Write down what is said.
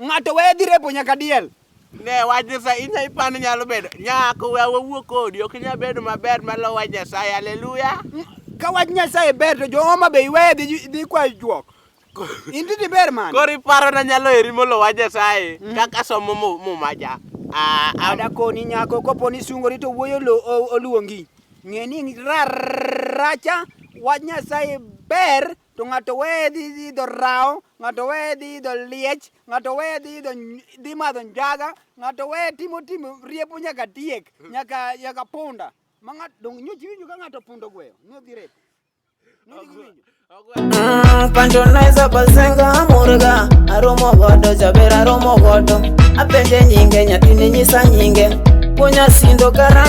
Ng'ato weye dhi repo nyaka diel. Ne wach Nyasaye inya ipani nyalo bedo nyako we wawuo kodi ok inya bedo maber malo wach Nyasaye haleluya. Ka wach Nyasaye ber to jooma be iweye dhi dhi kwa juok. Inti di ber man. Kori paro na nyalo eri molo wach Nyasaye mm. kaka somo muma ja. Ah, ah. ada koni nyako kopo ni sungori to wuoyo oluongi. Ng'e ni raracha wach Nyasaye ber to ng'ato weye dhi idho rawo ng'ato weye dhi idho liech ng'ato weye dhi idho dhi madho njaga ng'ato weye timo timo riepo nyaka tiek hmm. nyaka nyaka punda ma ng'ato dong nyochi winjo ka ng'ato pundo gweyo nodhi rep Mm, pancho naiza pasenga murga aromo godo jaber aromo godo apenje nyinge nyathini nyisa nyinge puonya sindo karange